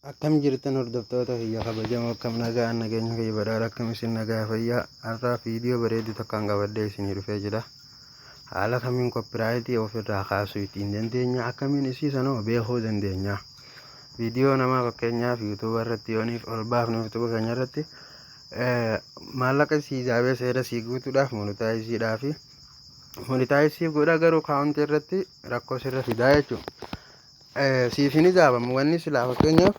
Akkam jirtan hordoftoota kiyya kabajamoo akkam nagaan nageenya kiyya badhaadha akkam isin nagaa fayyaa har'aa viidiyoo bareedu tokkoon qabadhee isinii dhufee jira haala kamiin koppiraayitii ofirraa kaasuu ittiin dandeenya akkamiin isii sanoo beekuu dandeenya viidiyoo namaa fakkeenyaaf yuutuuba irratti yooniif ol baafnu yuutuuba keenya irratti maallaqa sii jaabee seera sii guutuudhaaf monitaayisiidhaa fi monitaayisii godha garuu kaawuntii irratti rakkoo sirra fidaa jechuudha. siif hin hijaabamu wanni silaa fakkeenyaaf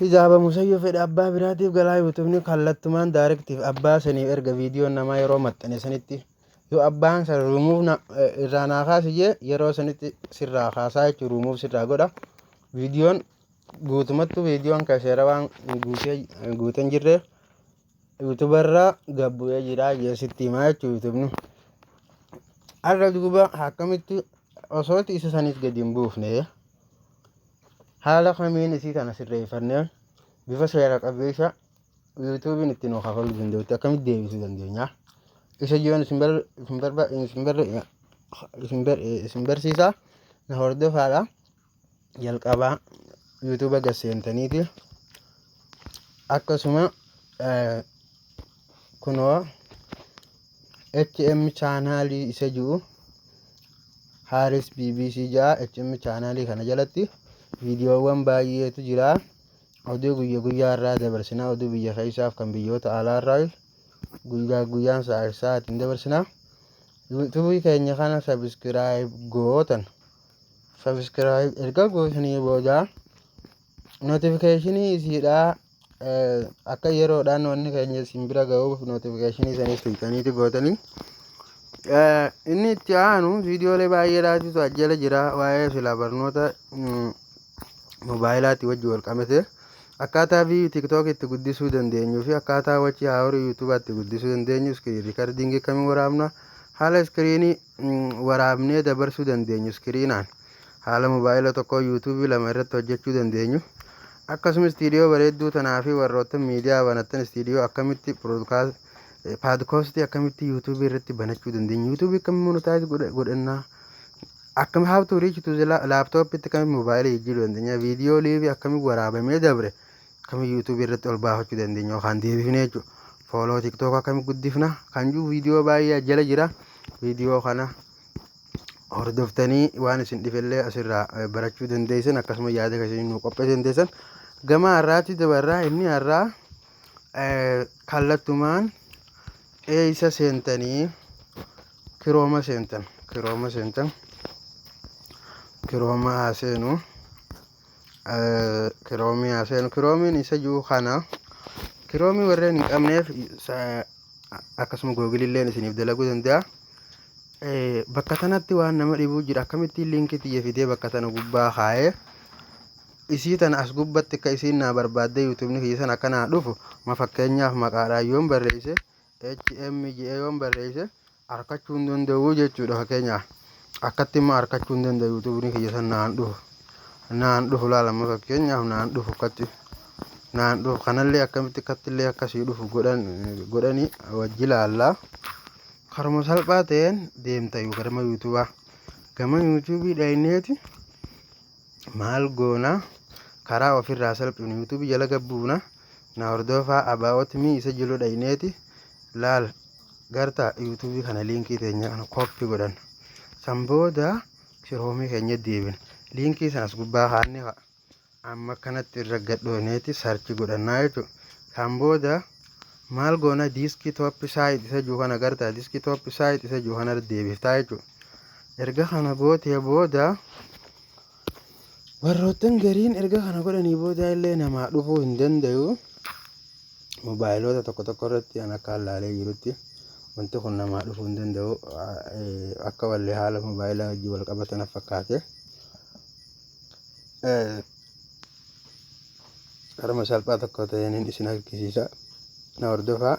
hijaabamu sayyoo fedha abbaa biraatiif galaa yuutubni kallattumaan daarektiif abbaa saniif erga viidiyoon namaa yeroo maxxane sanitti yoo abbaan san ruumuuf irraa naa kaasi jee yeroo sanitti sirraa kaasaa jechuun ruumuuf sirraa godha viidiyoon guutumattu viidiyoon kan seera waan guutee guutan jirreef YouTube irraa gad bu'ee jira jee sitti himaa jechuu YouTube har'a duuba akkamitti osoo isa saniis gadi hin buufne haala kamiin isii kana sirreeffannee bifa seera qabeessa yuutuubiin itti nu kafaluu danda'utti akkamitti deebisuu dandeenya isa jiran isin bar isin barba isin bar isin bar isin barsiisa na hordofaadha jalqabaa yuutuuba gad seentaniiti akkasuma eh, kunoo hm chaanaalii isa jiru haaris bbc ja'a hm chaanaalii kana jalatti viidiyoowwan baay'eetu jira oduu guyya guyyaa irraa dabarsina oduu biyya keessaaf kan biyyoota alaa irraa guyyaa guyyaan sa'a sa'aatiin dabarsina yuutuubii keenya kana sabiskiraayib gootan Subscribe erga gootanii booda notificationii isiidhaa akka yeroodhaan wanni keenya isin bira ga'uuf notificationii isaanii tuqxaniiti gootanii inni itti aanu viidiyoolee baay'ee laatutu ajjala jira waa'ee silaa barnoota moobaayilaatti wajji wal qabate akkaataa viiyuu tiktook itti guddisuu dandeenyuu fi akkaataa wachii haahorii yuutuubaatti guddisuu dandeenyu iskiriin riikardingii akkamiin waraabna haala iskiriinii waraabnee dabarsuu dandeenyu iskiriinaan haala mobaayila tokkoo yuutuubii lama irratti hojjechuu dandeenyu akkasuma istiidiyoo bareedduu tanaa fi warroottan miidiyaa banattan istiidiyoo akkamitti paadkoostii akkamitti yuutuubii irratti banachuu dandeenyu yuutuubii akkamitti monotaayiz godhannaa akkam how to reach to the laptop itti akkamitti mobaayila jijjiiruu dandeenya viidiyoo liivii akkamitti waraabamee dabre akkami youtube irratti ol baafachuu dandeenya yookaan deebifne jechuudha. Fooloo tiktok akkami guddifna kan jiru viidiyoo baay'ee jala jira. Viidiyoo kana hordoftanii waan isin dhifellee asirraa eh, barachuu dandeessan akkasuma yaada keessanii nu qopheessuu dandeessan. Gama har'aatti dabarraa inni har'aa eh, kallattumaan eeysa seentanii kirooma seentan kirooma seentan kirooma haa seenu. kiroomii haa seenu kiroomiin isa jiru kana kiroomii warreen hin qabneef akkasuma googililleen isiniif dalaguu danda'a. Bakka tanatti waan nama dhibuu jira akkamittiin liinkii tiyya fidee bakka tana gubbaa kaa'ee isii tana as gubbatti akka isiin naa barbaaddee yuutuubni kiyya sana akka naa dhufu ma fakkeenyaaf maqaadhaan yoon barreesse HM jedhee yoon barreesse arkachuu hin danda'uu jechuudha fakkeenyaa akkatti immoo arkachuu hin danda'u yuutuubni kiyya san naan dhufu naan dhufu laalama fakkeenyaaf naan dhufu akkatti naan dhufu kanallee akkamitti akkattillee akkasii dhufu godhan godhanii wajji laallaa karuma salphaa ta'een deemta yoo garama yuutuubaa gama yuutuubii dhayneeti Maal goona? Karaa ofirraa salphifnu YouTube jala gabbuuna na hordoofaa about me isa jilu dhayneeti laal garta YouTube kana liinkii teenya kana copy godhanna. San booda kiroomii keenya deebina. Liinkii sanas gubbaa kaanne amma akkanatti irra gadhooneeti sarchi godhannaa jechuudha. San booda maal goona diiskii tooppi saayit isa jiru kana gartaa diiskii tooppi saayit isa jiru kana deebiftaa jechuudha. Erga kana gootee booda warroottan gariin erga kana godhanii booda illee namaa dhufuu hin danda'u. Moobaayiloota tokko tokko irratti an akka hallaalee jirutti wanti kun namaa dhufuu hin danda'u akka wallee haala moobaayilaa wajjin wal qabatan fakkaate. harma salphaa tokko ta'een isin argisiisa na hordofaa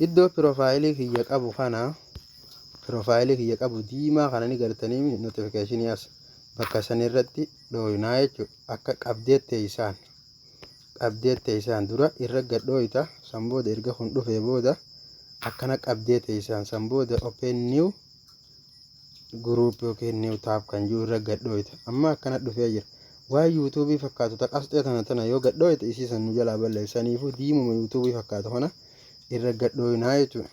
iddoo piroofaayilii kiyya qabu kana piroofaayilii kiyya qabu diimaa kana ni gartanii notifikashinii as bakka san irratti dhooyinaa jechuudha akka qabdee teessaan qabdee teessaan dura irra gad dhooyita san booda erga kun dhufee booda akkana qabdee teessaan san booda open new group yookiin new tab kan jiru irra gad dhooyta amma akkana dhufee jira waan yuutuubii fakkaatu ta qasxee tana tana yoo gad dhooyte isii san nu jalaa balleessaniifu diimuma yuutuubii fakkaatu kana irra gad dhooynaa jechuudha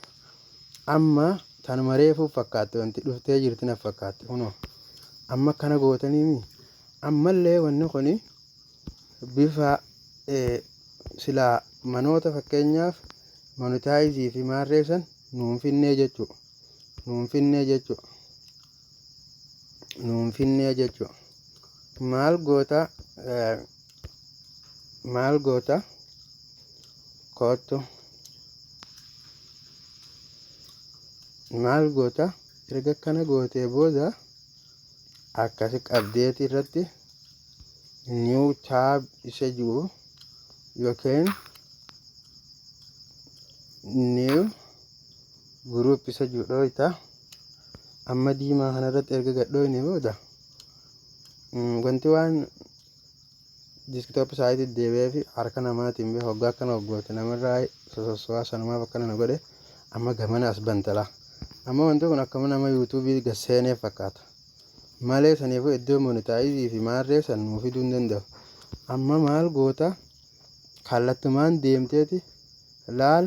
amma tan mareefuu fakkaatte wanti dhuftee jirti na fakkaatte kunoo amma akkana gootaniimi ammallee wanni kun bifa silaa manoota fakkeenyaaf monitaayizii fi maarreessan nuun finnee jechuudha nuun finnee jechuu nuun finnee jechuu maal goota eh, maal goota koottu maal goota erga akkana gootee booda akkasi qabdeeti irratti new tab isa jiru yookiin new group isa jiru dhooyta amma diimaa kanarratti erga gadhooyne booda wanti waan diskitoop saayitii deebi'ee fi harka namaatiin bee hoggaa akkana hoggoote namarraa sosossuwaa sanumaaf akkana na godhe amma gamana as bantala amma wanti kun akkama nama yuutuubii gasseenee fakkaata malee saniifuu iddoo monitaayizii fi maarree san nuu fiduu hin danda'u amma maal goota kallattumaan deemteeti laal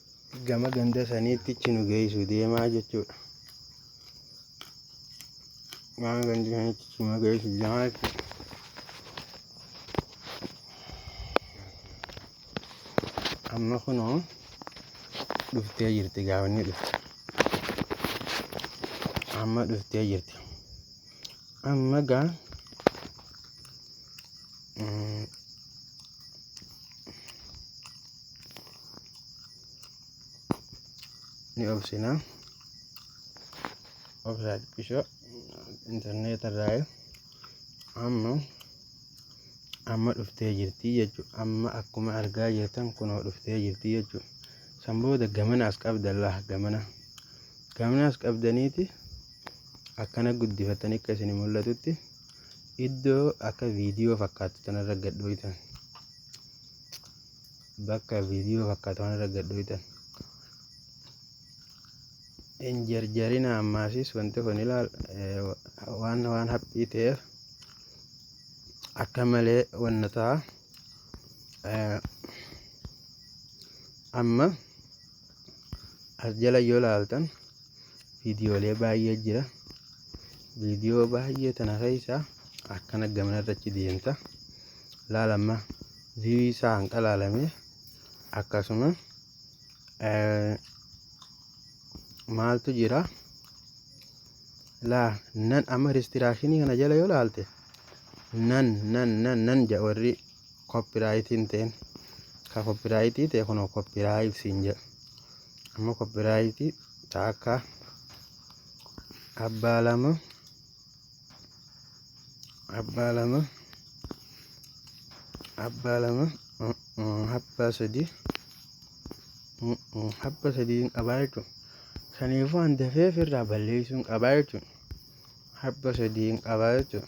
gama ganda saniitti achi nu geessu deemaa jechuudha. Gama ganda saniitti achi nu geessu deemaa jechuudha. Amma kunoo dhuftee jirti gaafni dhufte. Amma dhuftee jirti. Amma gaa mm, ni obsina obsaa xiqqishoo intarneeta irraa amma amma dhuftee jirti jechuudha amma akkuma argaa jirtan kunoo dhuftee jirti jechuudha san booda gamana as qabdan laha gamana gamana as qabdaniiti akkana guddifatanii akka isin mul'atutti iddoo akka viidiyoo fakkaatu tanarra gadhooytan bakka viidiyoo fakkaatuun irra gad dhooytan hin jarjarina ammaasis wanti kun ilaal waan waan haphii ta'eef akka malee wanna ta'a amma as jala yoo laaltan viidiyoolee baay'ee jira viidiyoo baay'ee tana keessaa akkana gamana irratti deemta laalamma viiyuu isaa hanqa laalamee akkasuma maaltu jira laa nan amma ristiraashinii kana jala yoo laalte nan nan nan nan ja warri koppiraayitiin ta'een ka koppiraayitii ta'e kunoo koppiraayit siin jedha amma koppiraayitii ta akka abbaa lama abbaa lama abbaa lama abbaa sadii abbaa sadii qabaa jechuun kaniifuu an dafee ofirraa balleessuun qabaa jechuun abbaa sadii qabaa jechuun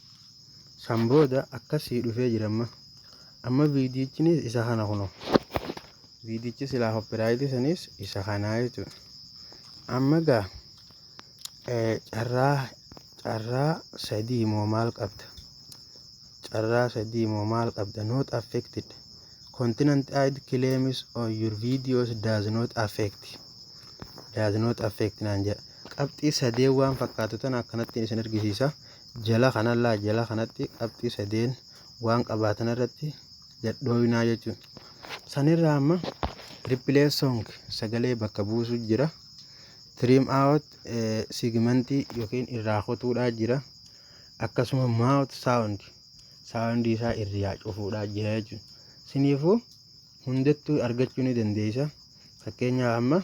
San booda akkas sii dhufee jira amma. Amma viidiyichinis isa kana kuno. Viidiyichi silaa koppiraayitii sanis isa kanaa jechuudha. Amma gaa carraa carraa sadii moo maal qabda? Carraa sadii moo maal qabda? Not affected. Continent ID claims on your videos does not affect. Does not affect naan jedha. Qabxii sadeen waan fakkaatu tana akkanattiin isin argisiisa. jala kana laa jala kanatti qabxii sadeen waan qabaatan irratti gadhooyinaa jechuudha. Sanirraa amma replace song sagalee bakka buusu jira. Trim out eh, segmentii yookiin irraa kutuudhaa jira. Akkasuma mouth sound sound isaa irraa cufuudhaa jira jechuudha. Siniifuu hundattuu argachuu ni dandeessa. Fakkeenyaaf amma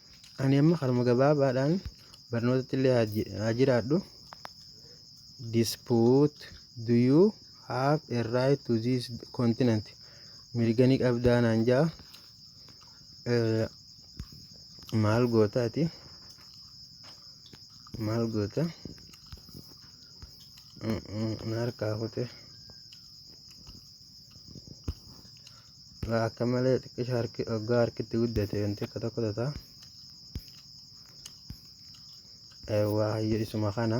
Ani amma karuma gabaabaadhaan barnootatti illee haa jiraadhu. Dispute do you have a right to this continent? Mirga ni qabdaa naan jaa. Maal goota ati? Maal goota? Na harkaa kute. Egaa akka malee xiqqisha harki oggaa harkitti guddate wanti akka tokko tata. Eewwaa hayyo isuma kana.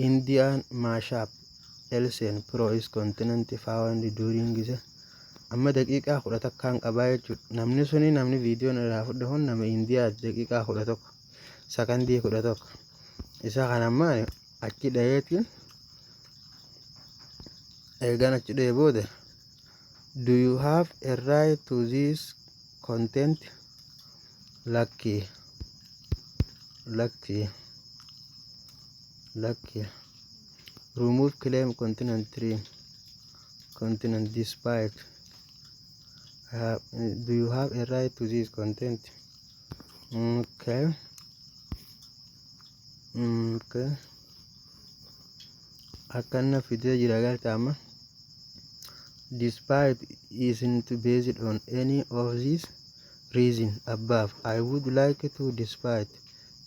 Indian mashup Elsen Pro is continent found during the amma daqiiqaa kudha takkaan qabaa jechuudha. Namni suni namni viidiyoon irraa fudhe kun nama Indiyaati daqiiqaa kudha tokko. sakandii kudha tokko isa kan ammaa achi dhayeetti eegan achi dhayee booda do you have a right to this content lakki lakki lakki remove claim continent tree continent despite uh, do you have a right to this content Okay. Okay. Akkana fidee jira galta amma. Despite isn't based on any of these reason above, I would like to despite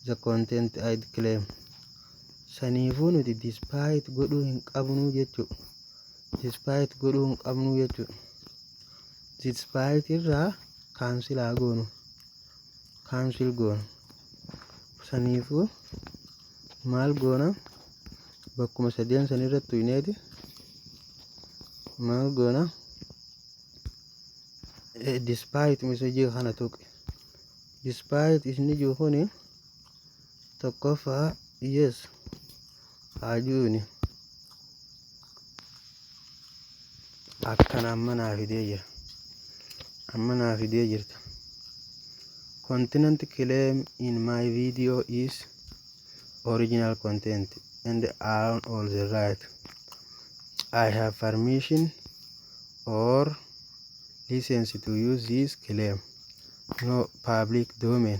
the content I'd claim. Saniifuu nuti despite godhuu hin qabnu jechuudha. Despite godhuu hin qabnu jechuudha. Zitspite irraa cancel haa goonu cancel goonu saniifuu maal goona bakkuma sadeen san irratti tuyneeti maal goona despite message kana tuqe despite isni jiru kuni Tokkoffaa yes haajuuni akkan amma naa fidee jira amma naa fidee jirta continent claim in my video is original content and own all the right I have permission or license to use this claim no public domain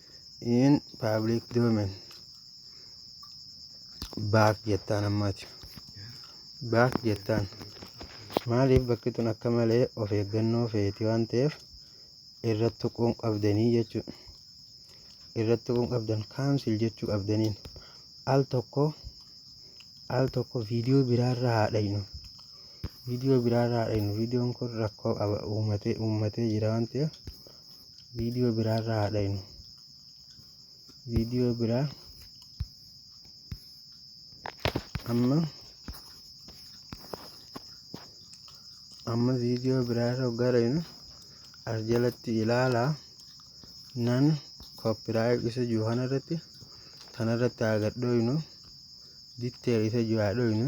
in public domain baak jettaan ammaati baak jettaan maaliif bakki tun akka malee of eeggannoo feeti waan ta'eef irratti tuquun qabdanii jechuu irratti tuquun qabdan kaansil jechuu qabdaniin al tokko al tokko viidiyoo biraarra haadhaynu viidiyoo biraarra haadhaynu viidiyoon kun rakkoo qaba uumatee uumatee jira waan ta'eef Viidiyoo biraa irraa haa dhaynu. Viidiyoo biraa amma amma viidiyoo biraa irra hoggaa dhaynu as jalatti ilaala nan koppiraayit isa jiru kana irratti kana irratti haa gad dhooynu ditteer isa jiru haa dhooynu.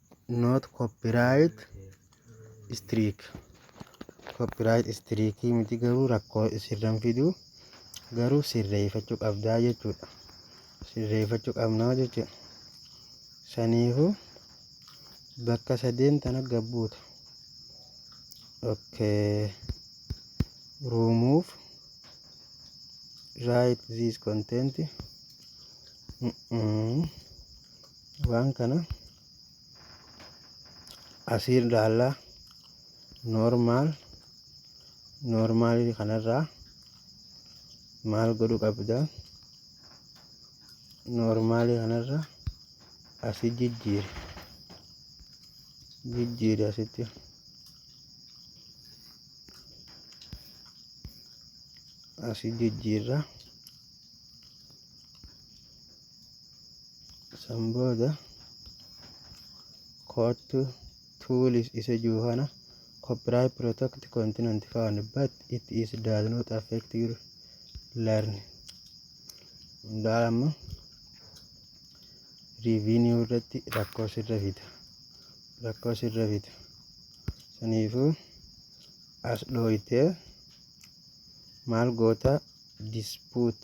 not copyright strike copyright strike miti garuu rakkoo sirran fidu garuu sirreeffachuu qabdaa jechuudha sirreeffachuu qabnaa jechuudha saniifu bakka sadeen tana gabbuuta okay remove write this content mm -mm. Waan kana asii ilaalla normal normal kanarraa maal godhu qabda normal kanarra asi jijjiiri jijjiiri asitti asi jijjiirra san booda koottu tools isa jiru kana copyright protect continent found but it is does not affect your learn hundaa amma revenue irratti rakkoo sirra fida rakkoo sirra fida saniifuu as dhooytee maal goota dispute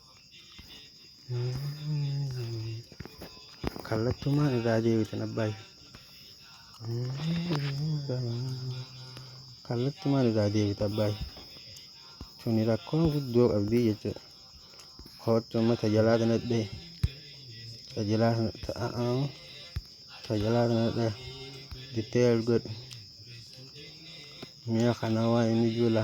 Kallattumaan irraa deebitan abbaa Kallattumaan irraa deebita abbaa Tuni rakkoo guddoo qabdii jechuudha. Koottu amma tajalaa kana dhee. Tajalaa kana ta'aa. Tajalaa kana dhee. Detail godhi. Mi'a kana waa inni jula.